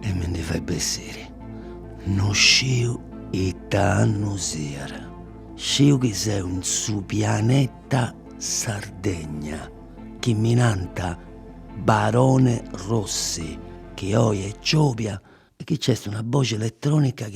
E mi ndi fait bessiri. No sciu ita annu siat, sciu chi seu in su pianeta Sardegna, chi mi nant Barone Rossi, chi oi est giòbia e chi nc'est una boxi eletronica chi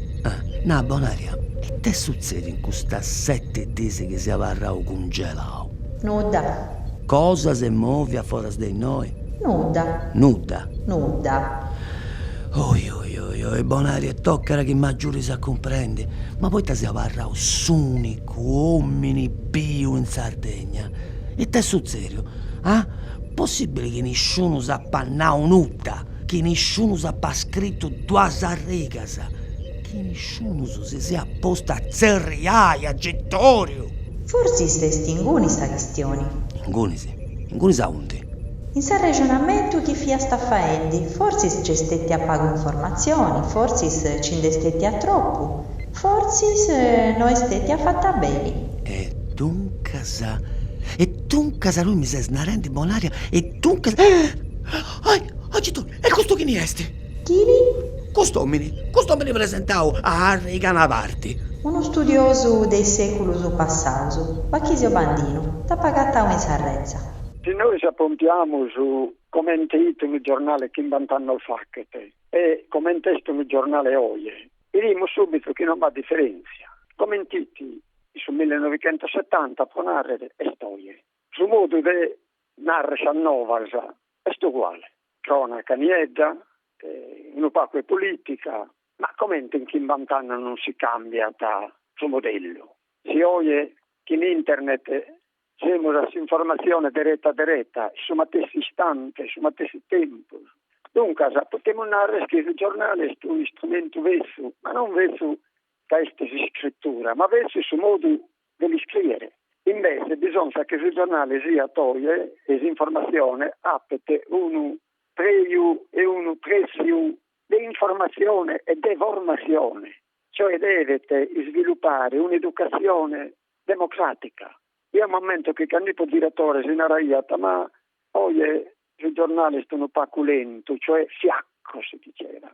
Ah, nà Bonaria, it'est sutzèdiu in custas sete dies chi sia abarrau cungelau? Nudda. Cosa s'est mòvia foras de innoi? Nudda. Nudda. Nudda. Oi oi oi oi, Bonaria, e tocat chi m'agiudis a cumprendi, ma poita sia abarrau s'ùnicu òmini biu in Sardegna? It'est sutzèdiu? Ah, possibili chi nisciunus apat nau nudda? chi nisciunus apat scritu duas arrigas, chi nisciunus si siat postu a tzerriai agitòriu. Forsis est inguni sa chistioni. Ingunis? Ingunis aundi? In s'arrexonamentu chi fiast faendi, forsis nc'est stetia pagu informatzioni, forsis nci nd'est stetia tropu, forsis no est stetia fata beni. E duncas, e duncas, tui mi ses narendi, Bonaria, e duncas, ah! Ahi, agitu, e custu chini est? Chini? Cust'omini, cust'omini presentau a Harry Canavarti. Unu studiosu de is seculus passaus. Bachisio Bandinu, dd'ap agatau in sa retza. Si nois apompiamus comente it unu giornale chimbant'annos fachet e comente est unu giornale oje, birimus subitu chi non b'at diferentzia. Coment'it in su millenovicentosetanta, pro narrer, est oje. Su modu de narrer sas novas est uguale, cronaca niedda, unu pacu 'e politica, ma comente in chimbant'annos non si cambiat su modellu, si oje chin internet semus a s'informatzione dereta dereta, in su matessi istante, in su matessi tempus, duncas potemus narrer chi su giornale est un'istrumentu betzu, ma non betzu ca est s'iscritura, ma betzu su modu de l'iscriere. Invece bisonzat chi su giornale siat oje e s'informatzione apet unu preju e unu pretziu de informatzione e de formatzione, cioè devet isvilupare un'educatzione democràtica. Jeo m'ammento chi cand'ippo diretore si naraiat ma oje su giornale est unu pacu lentu, cioè fiacco si diceva.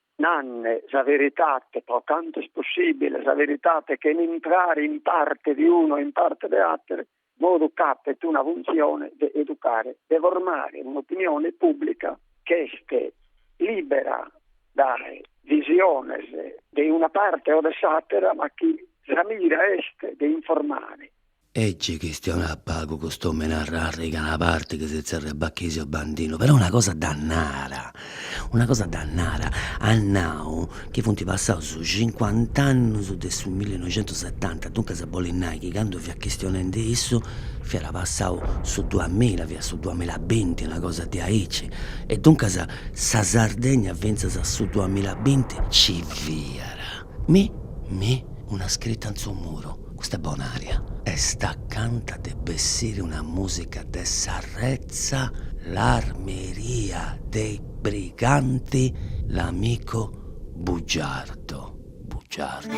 Nanne, sa veritate, pro cantu est possibile, sa veritate chene intrare in parte de unu e in parte de atere modu ch'apet una funtzione de educare, de formare un'opinione pubblica chi est libera dae visiones de una parte o de s'atera ma chi sa mira est de informare. E gi chistionat pagu cust'omini a arriga a una parti chi si zerriat Bachisio Bandinu, però una cosa dda narat, una cosa dda narat, at nau chi funt passaus cincuant'annus de su millinoixentusetanta, duncas bolit nai chi candu fiat chistionendi issu fiat passau su duamilla, fiat su duamilla e binti, una cosa diaici, e duncas sa Sardegna fintzas a su duamilla e binti ci fiat. Mi mi una scritta in su muru Custa Bonaria est acanta de bessiri una musica de sa retza L'armeria dei briganti L'amico bugiardo bugiardo.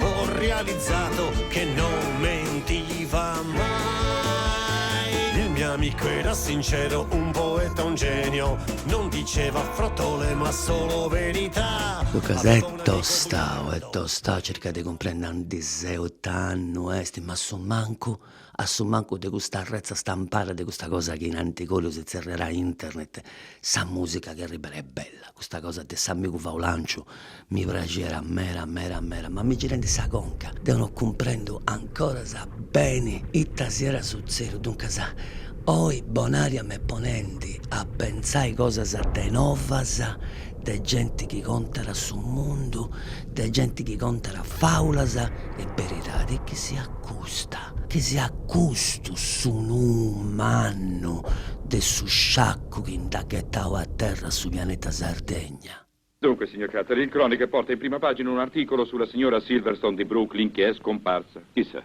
Ho realizzato che non mentiva mai Il mio amico era sincero, un poeta, un genio Non diceva frottole ma solo verità Duncas est tostau, est tostau a circai de cumprendi aundi seu, it'annu est ma a su mancu a su mancu de custa arretza stampada de custa cosa chi in antigòriu si tzerriàt internet, sa mùsica chi arribat est bella, custa cosa de s'amigu faulànciu mi praxit meda meda meda, ma m'est girendi sa conca deu no cumprendu ancoras beni ita siat sutzèdiu, duncas oi Bonaria m'est ponendi a pentzai cosas de novas, de genti chi contat su mundu, de genti chi contat fàulas e beridadi e chi siat custa, chi siat custu su nuu mannu de su sciacu chi nd'at ghetau a terra a su pianeta Sardegna. Dunque, signor Carter, il Chronicle porta in prima pagina un articolo sulla signora Silverstone di Brooklyn che è scomparsa. Chissà.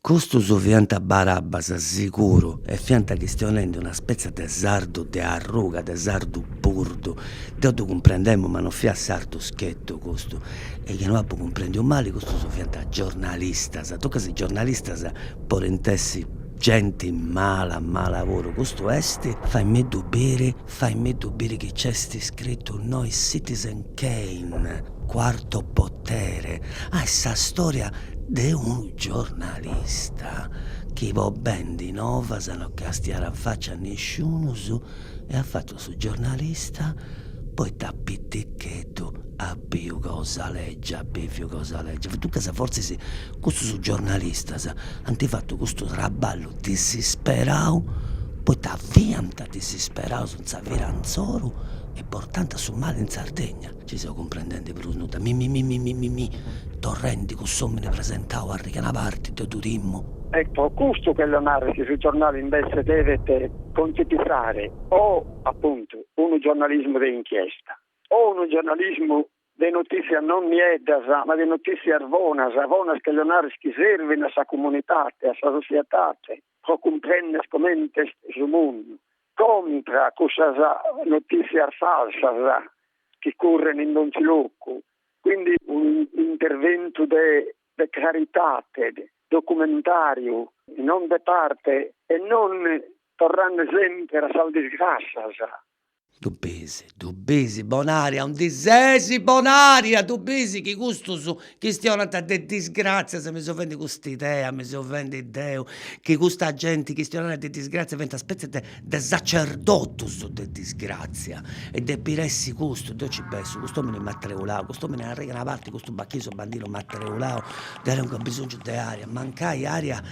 Custus fiant barabbas siguru e fiant chistionendi una spètzia de sardu de arruga, de sardu burdu. Deu ddu cumprendemu ma no fiat sardu schetu custu. E chi no apu cumprendiu mali custus fiant giornalistas. Duncas giornalistas podint essi genti mala mala puru. Custu est faimiddu biri Faimiddu biri chi c'est iscritu innoi Citizen Kane, Quarto Potere, ah est sa storia de unu giornalista chi po bendi novas no castiat a faci a nisciunus e at fatu su giornalista poita a pitichetu at biu cosa legia, at biviu cosa legia, duncas fortzis custus giornalistas ant fatu custu traballu disisperau poita fiant Disisperaus in sa vira insoru e portanta su mali in Sardegna. Ci seu cumprendendi prus nudda. Mimimimimimimimì torrendi cuss'omini presentau a riga a una parti, deu ddu timmu. Ecco, custu cherjo narrer chi su giornale invece devet contipizare o, appuntu, unu giornalismu de inchiesta o unu giornalismu de notizias non nieddas ma de notizias bonas, bonas cherjo narrer chi servin a sa comunitate, a sa societate. pro cumprender comente est su mundu, contra cussas notìtzias falsas chi current in donzi locu, quindi un'interventu de de caritate, documentàriu, non de parte e non torrande semper a sas disgrassas, Ddu bisi, ddu bisi, Bonaria, aundi sesi Bonaria, ddu bisi chi custus chistionant de disgràtzias, mi seu fendi cust'idea, mi seu fendi deu, chi custa genti chistionat de disgràtzias funt una spètzia de de sacerdotus de disgràtzia e depit essi custu, deu nci bessu, cust'omini m'at treulau, cust'omini a riga a una parti, custu Bachisio Bandinu m'at treulau, deu tengu bisongiu de aria, mancai aria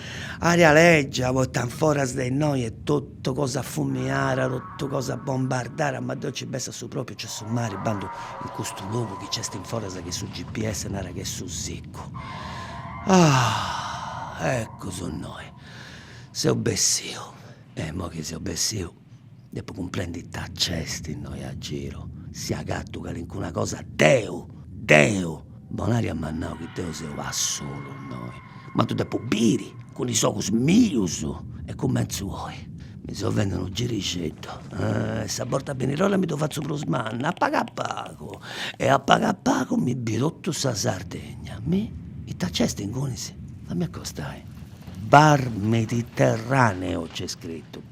Aria lègia, poita in foras de innoi est totu cosa fumiara, totu cosa bombardara, ma deu nci bessu su pròpiu nc'est su mari, bandu in custu logu chi nc'est in foras chi su GPS narat chi est Su Siccu. Ah! Ecu, seu innoi. Seu bessiu. E imoi chi seu bessiu Depu cumprendi ita nc'est innoi a giru, si agatu calincuna cosa deu, deu, Bonaria m'at nau chi deu seu a solu innoi, ma ddu depu biri cun is ogus mius e cumentzu oi, mi seu fendi unu girixeddu e sa borta benirola mi ddu fatzu prus manna, a pagu a pagu e a pagu a pagu mi biu totu sa Sardegna, mi, ita nc'est ingunis, fammi acostai, Bar Mediterraneo nc'est scritu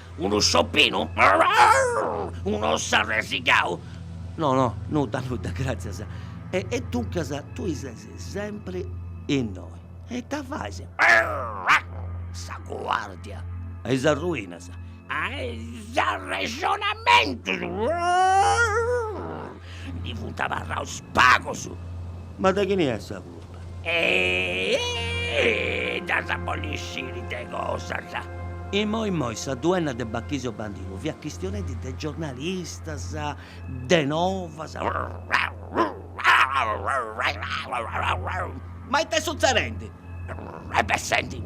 Unu sciopinu? Un'ossu arresigau? No, no, nudda, nudda, gràtzias. E e duncas tui ses sempri innoi. E ita fais? Sa guàrdia. A is arruinas? A is arrexonamentus! Ndi funt abarraus pagus. Ma de chini est sa. E nd'as a bolli sciri de cosas. Imoi imoi sa duenna de Bachisio Bandinu fiat chistionendi de giornalistas, de novas. Ma it'est sutzedendi? E beh, senti.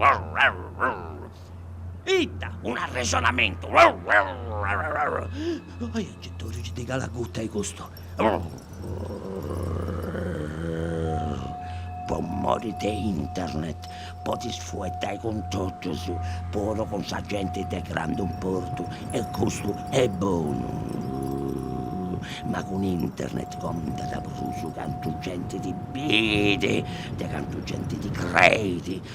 Ita, un'arrexonamentu! Aia nci torri, chi ti calat guta 'e custu! Po mori de internet podis fueddai cun totus, puru cun sa genti de grandu importu e custu est bonu. Ma cun internet contat prus cantu genti ti bidi de cantu genti ti creit.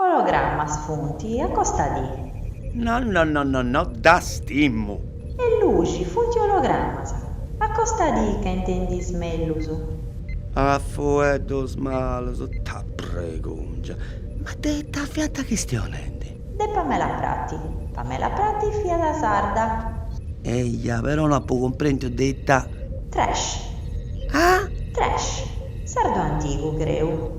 Ologramas funt, acostadì. No no no no no ddas timu. E luxi funt ologramas. Acostadì ca intendis mellus. A fueddus malus. Ta bregungia. Ma de ita fiant chistionendi? De Pamela Prati. Pamela Prati fiat sarda. Eja, però no apu cumprendiu de ita. Trash. Ah? Trash. Sardu antigu, creu.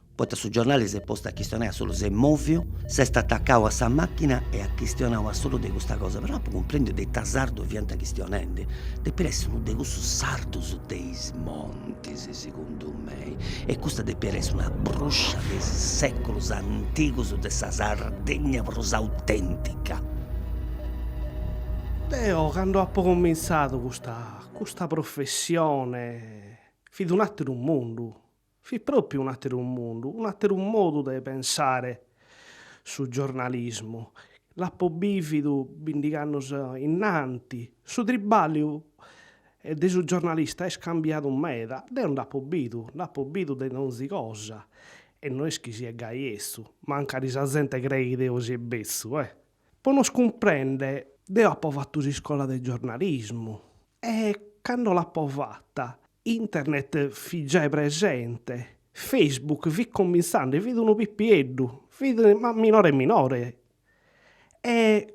Poita su giornali s'est postu a chistionai a solu, s'est moviu, s'est atacau a sa machina e at chistionau a solu de custa cosa, però no apu cumprendiu de ita sardu fiant chistionendi, depit essi unu de cussus sardus de is montis, segundu mei, e custa depit essi una bruscia de is seculus antigus de sa Sardegna prus autentica. Deo candu apu comintzadu custa custa professione fit un'ateru mundu Fit pròpiu un'àteru mundu, un'àteru modu de pensare su giornalismu. L'apo bìvidu bindigh'annos innanti. Su tribàlliu de su giornalista est cambiadu meda. Deo nd'apo bidu, nd'apo bidu de donzi cosa e no est chi sia gai 'etzu, mancari sa zente creit chi deo sie betzu, eh! Po nos cumprende deo apo fatu s'iscola de giornalismu e cando l'apo fata internet fit giai presente, Facebook fit comintzende, fit unu pipieddu, fit ma minore minore e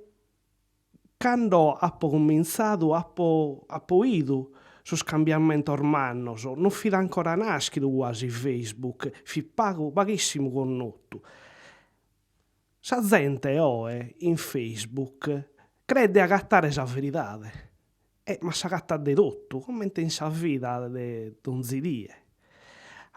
cando apo comintzadu apo apo 'idu sos cambiamentos mannos, non fit ancora naschidu guasi Facebook, fit pagu paghissimu connotu Sa zente oe in Facebook creet de agatare sa veridade, e ma s'agatat de totu, comente in sa vida de donzi die.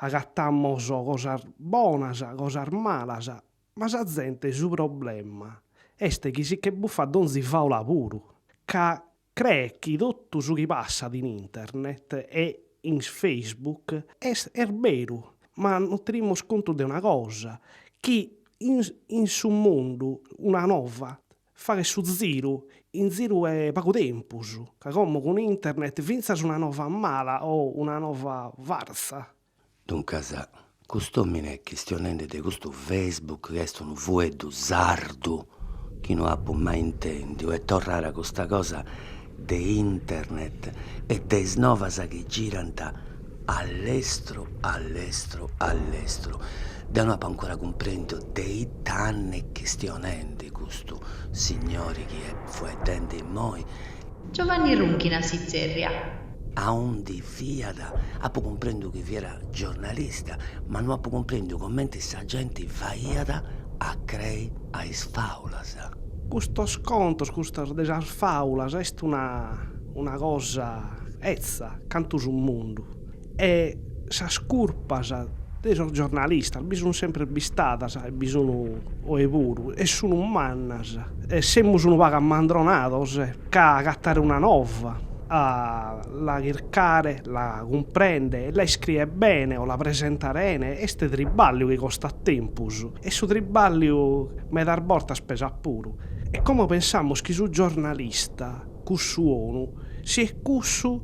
Agatamos cosas bonas, cosas malas, ma sa zente su problema est chi si che buffat donzi faula puru, ca Creet chi totu su chi passat in internet e in Facebook est beru, ma non tenimus contu de una cosa, chi in su mundu una nova faghet su ziru in ziru 'e pagu tempus, ca como cun internet fintzas una nova mala o una nova farsa Duncas cust'omine chistionende de custu Facebook chi est unu fueddu sardu chi no apo mai intendiu e torrare a custa cosa de internet e de is novas chi girant a lestru a lestru a lestru deo no apo ancora cumprendiu de ita ant essi chistionende custu signori chi est fueddende immoi Giovanni Runchina si tzerriat. Aundi fiat, apu cumprendu chi fiat giornalista, ma no apu cumprendiu comenti sa genti faiat a crei a is fàulas. Custos contos, custas de sas fàulas est una cosa etza cantu su mundu. E sas curpas de sos giornalistas bi sun sempre istadas e bi sun oe puru e sun mannas e semus unu pagu ammandronados ca agatare una nova a la chircare la cumprende e la iscrie bene o la presentare 'ene est triballiu chi costat tempus e su triballiu medas bortas pesat puru e como pensamus chi su giornalista cussu 'onu siet cussu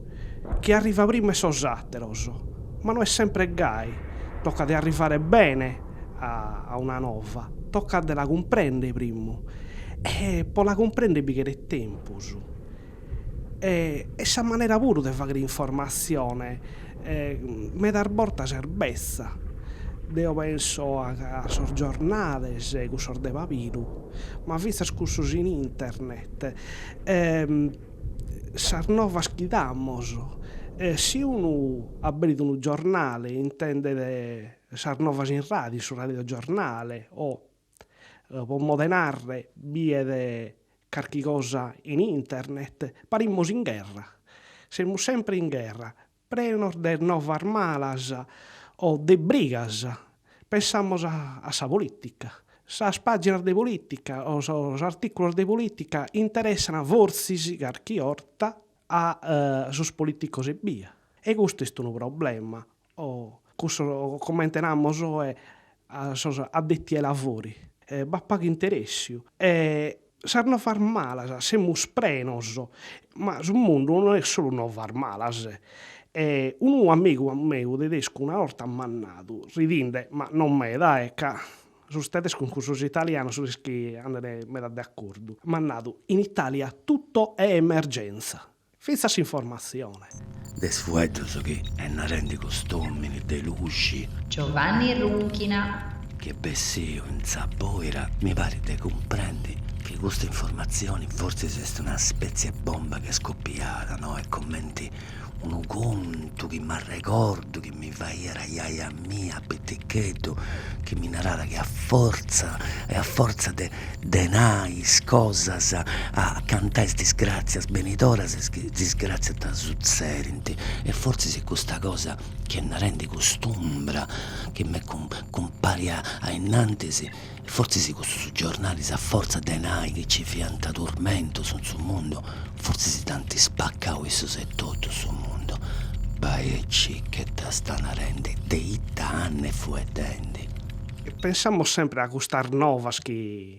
chi arrivat primu 'e sos àteros, ma no est sempre gai, tocat de arrivare bene a una nova, tocat de la cumprender primu e pro la cumprender bi cheret tempus e e sa manera puru de fagher informatzione medas bortas est betza, deo penso a a sos giornales cussos de pabiru, ma fintzas cussos in internet sas novas chi damos, si unu aberit unu giornale intendet sas novas in radiu, in su radiogiornale o pro mode 'e narrer biet carchi cosa in internet parimus in gherra, semus sempre in gherra Prenos de novas malas o de brigas, pensamos a sa polìtica. Sas pàginas de polìtica o sos artìculos de polìtica interessant forsis carchi 'orta a sos polìticos ebbia, e custu est unu problema, o cussos comente namus oe a sos addetti ai lavori, b'at pagu interessiu e Sas novas malas semus prenos, ma su mundu no est solu novas malas. E unu amigu meu tedescu una 'orta m'at nadu, ridinde, ma non meda, e ca sos tedescos cun sos italianos no est chi andene meda de accordu, m'at nadu, in Italia tutto è emergenza. Fintzas s'informatzione. De is fueddus chi est narendi cust'omini de luxi. Giovanni Runchina. Chi est bessiu in sa boira mi parit de cumprendi chi custa informatzioni fortzis est una spetzie bomba chi est scopiada, no? Est comenti unu contu chi m'arregordu chi. mi faghiat a jaja mia piticheddu chi mi naràt chi a fortza e a fortza de de nai is cosas a cantai is disgràtzias benidoras is disgràtzias ti sutzedint e fortzis est custa cosa chi est narendi cust'umbra chi m'est cumparia ainnantis E fortzis cussus giornalis a fortza de nai chi ci fiant turmentos in su mundu, fortzis dd'ant spaccau issos etotu su mundu, bai circa ita 'stant narendi de ita ant fueddendi. E pensamos sempre a custas novas chi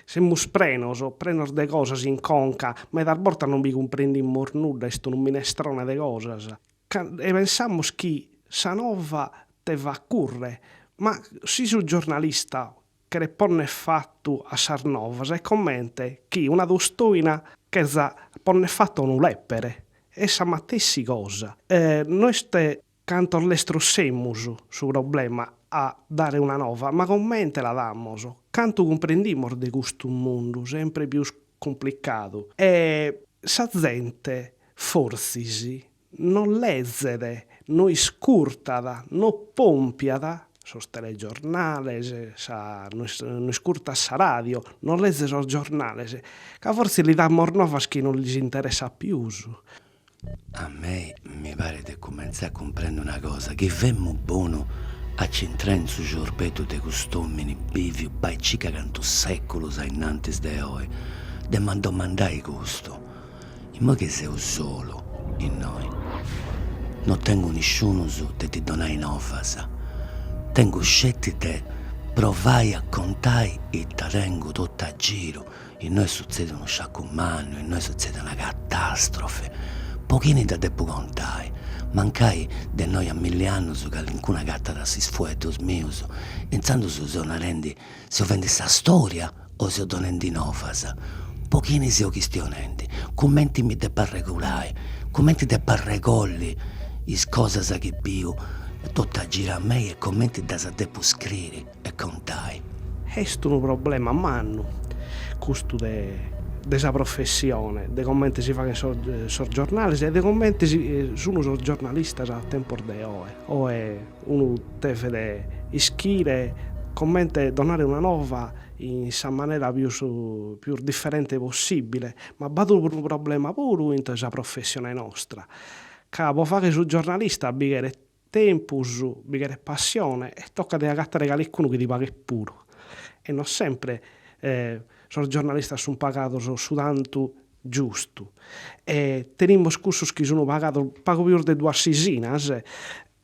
semus prenos, prenos de cosas in conca, medas bortas non bi cumprendimus nudda, est unu minestrone de cosas, E pensamus chi sa nova te fat curre, ma si su giornalista cheret ponner fatu a sas novas est comente chi una tostoina cherza ponner fatu a unu lèpere, est sa matessi cosa, no est cantos lestros semus su problema a dare una nova, ma comente la damos, cantu cumprendimus de custu mundu sempre pius cumplicadu e sa zente Fortzis no lezet, no iscurtat, no pompiat sos telegiornales, sa, no no iscurtat sa ràdio, no lezet sos giornales, ca fortzis li damos novas chi no lis interessat pius. A mei mi paret de cumentzai a cumprendi una cosa, chi femu bonu a ci intrai in su ciorbeddu de cust'òmini bìviu bai circa cantu sèculos ainnantis de oi. De m'ant domandai custu. Immoi chi seu solu innoi. No tengu nisciunus de ti donai novas, tengu sceti de provai a contai ita tengu totu a giru, innoi est sutzediu unu sciacu mannu, innoi est sutzedida una catastrofi, po chini dda depu contai, mancai de innoi a milli annus calincunu agatat is fueddus mius, intzandus seu narendi Seo fendi sa storia o seo donendi novas? Po chini seo chistionendi? Cumenti mi depo arregulai? Cumenti depo arregolli is cosas chi biu totu a giru a mei e comenti ddas depu scriri e contai? Est unu problema mannu custu de de sa professione, de comenti si faghint sos sos giornalis e de comenti si sunu sos giornalistas a tempos de oe. Oe Unu devet ischire comente donare una nova in sa manera pius pius differente possibile, ma b'at unu problema puru intro sa professione nostra, ca po fagher su giornalista bi cheret tempus, bi cheret passione e tocat de agatare calincunu chi ti paghet puru e non sempre sos giornalistas sun pagados su tantu giustu e tenimus cussos chi sun pagados pagu pius de duas sisinas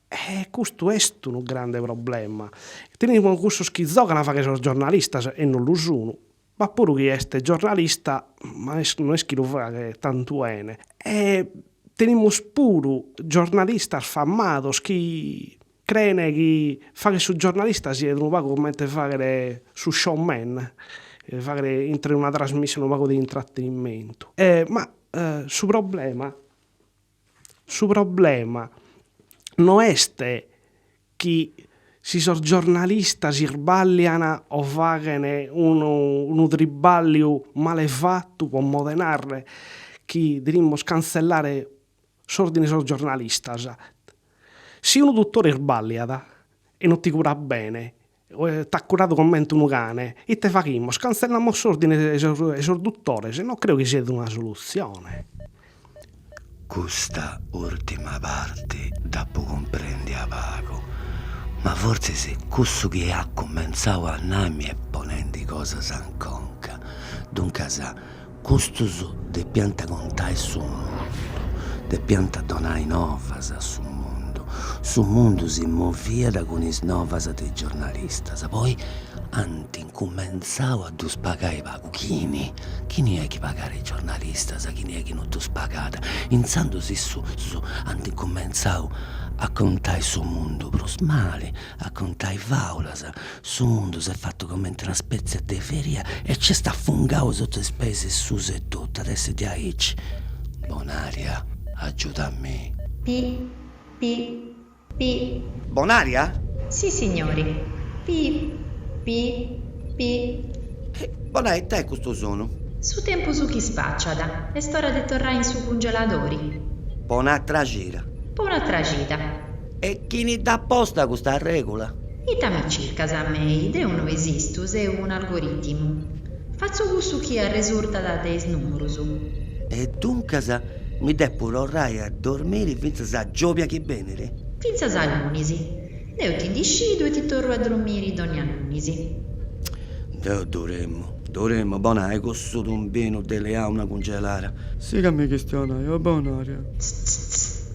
E custu est unu grande problema. Tenimus cussos chi zogant a fagher sos giornalistas e non lu sun, b'at puru chi est giornalista ma no est chi lu faghet tantu 'ene e tenimus puru giornalistas famados chi creen chi fagher su giornalista siet unu pagu comente fagher su show man, fagher intre una trasmissione unu pagu de intrattenimentu. Ma su problema Su problema no est chi si sos giornalistas isbàllian o faghen unu tribàlliu male fatu pro modu 'e narrer chi devimus cantzellare s'òrdine 'e sos giornalistas. Si unu dutore isbàlliat e no ti curat bene T'at curadu comente unu cane. Ite faghimus? Cantzellamos s'ordine 'e sos duttores? No creo chi siat una solutzione. Custa ùrtima parte dd'apu cumprèndia pagu, ma fortzis cussu chi at cumentzau a nai mi est ponendi cosas in conca. Duncas Custus depiant contai su mundu, depiant donai novas a su mundu. Su mundu si moviat cun is novas de is giornalistas. Poi ant incumentzau a ddus pagai pagu. Chini? Chini est chi pagat is giornalistas? Chini est chi no ddus pagat? Intzandus issus ant incumentzau a contai su mundu prus mali, a contai fàulas. Su mundu s'est fatu comente una spètzia de feria e nc'est afungau suta is peis suus etotu. At essi diaici. Bonaria, agiuda a mi. Pi, pi, pi. Bonaria? Si, signori. Pi, pi, pi. Hi, bona, ita est custu sonu? Su tempus chi spaciat, est ora de torrai in su cungeladori. Po un'atra cira. Po un'atra cida. E chini dd'at posta custa regula? Ita mi circas a mei? Deu no esistu, seu un'algoritimu. Fatzu cussu chi arresurtat de is nùmerus. E duncas mi depu torrai a dormiri fintzas a giòbia chi benit? Fintzas a lunis. Deu ti ndi scidu e ti torru a dormiri dònnia lunis. Deu durimmu, durimmu, bonai, cussu tumbinu de leau una cungelara. Si ca mi chistionai, o Bonaria. Tztztzz.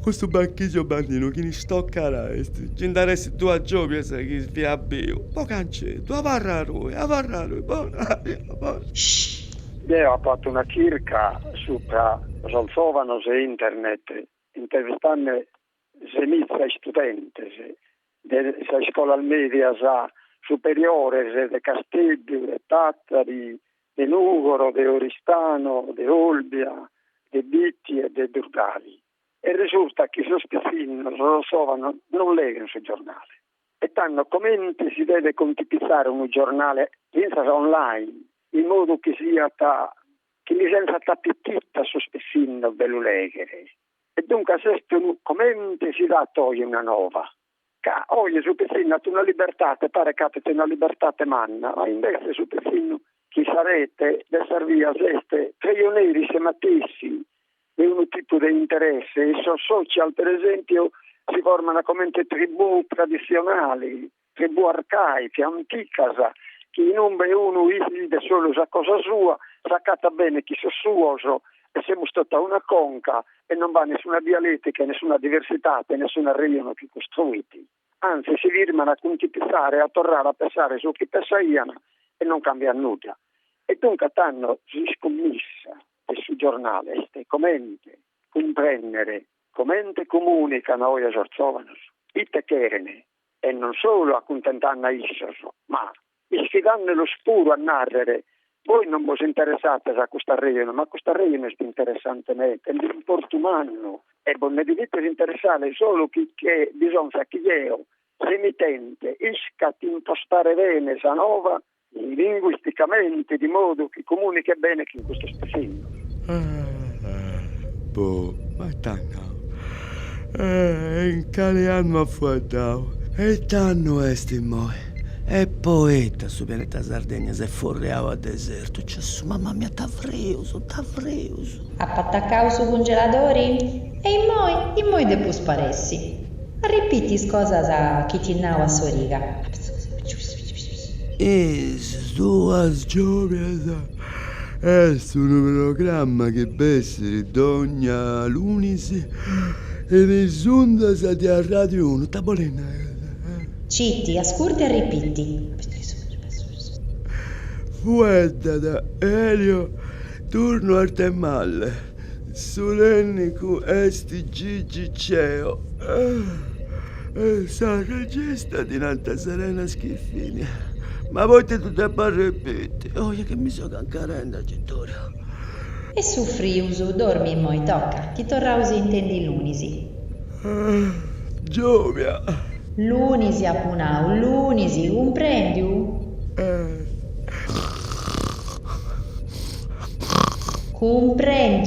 Custu Bachisio Bandinu chini stocara est chi nd'ar'essi duas giòbias chi fiat biu. Po cancetu, abarra·ddoi, abarra·ddoi, Bonari, abarra. Deo apo fatu una chirca supra sos zòvanos e internet intervistande semiza istudentes de sas iscolas mèdias superiores de Casteddu, de Tàtari, de Nùgoro, de Oristano, de Olbia, de Bitti e de Durgali. E resurtat chi sos pitzinnos sos zovanos non leghen su giornale e tando comente si devet contipitzare unu giornale fintzas online, in modu chi siat chi lis benzat apitittu a sos pitzinnos de lu lèghere. E duncas est unu comente si dat oi una nova, ca oi su pitzinnu at una libertate, paret ca apit una libertate manna, ma imbetze su pitzinnu chin sa rete de sas bias est preioneri isse matessi de unu tipu de interesse e sos social, per esempiu, si forman comente tribù traditzionali, tribù arcaiche anticas chi in umbe unu bidet solu sa cosa sua s'acatat bene chin sos suos e semus tota una conca e non b'at nessuna dialetica nessuna diversitate nessunu arreionu chi costruit anzi si firman a cuntipizare a torrare a pessare su chi pessaian e non cambiat nudda e duncas tando s'iscummissa de su giornale est comente cumprennere comente comunican oe sos zovanos ite cheren e non solu acuntentanno a issos, ma isfidannolos puru a nàrrere, Bois non bos interessates a custu arrejonu, ma custu arrejonu est interessante meta e de importu mannu, e bos nde devites interessare solu chi che bisonzat chi eo, s'emitente, iscat impostare bene sa nova linguisticamente, di modu chi comunichet bene chin custos pitzinnos. Bo b'at andadu? E in cale annu at fueddadu? E ite annu est immoi? E poita su pianeta Sardegna s'est forriau a desertu? Gesù, mamma mia, ita frius, ita frius! Apu atacau su cungeladori? E immoi, immoi depu sparessi. Arripiti is cosas chi ti nau a s'origa. Is duas giòbias est unu programma chi bessit dònnia lunis in is undas de Arràdiu Unu. Ita bolit nai? Citi, ascurta e arripiti. Fueddat Elio Turno Arthemalle. Su tènnicu est Gigi Ceo e sa regista ddi nanta Serena Schiffini. Ma poita ddu depu arrepiti? Oia chi mi so cancarende, agitòriu. Est su frius dormi immoi toca, chi torraus intendi lunis. Giovia. Lunis apu nau, lunis, cumprendiu? Eh. Cumprendiu?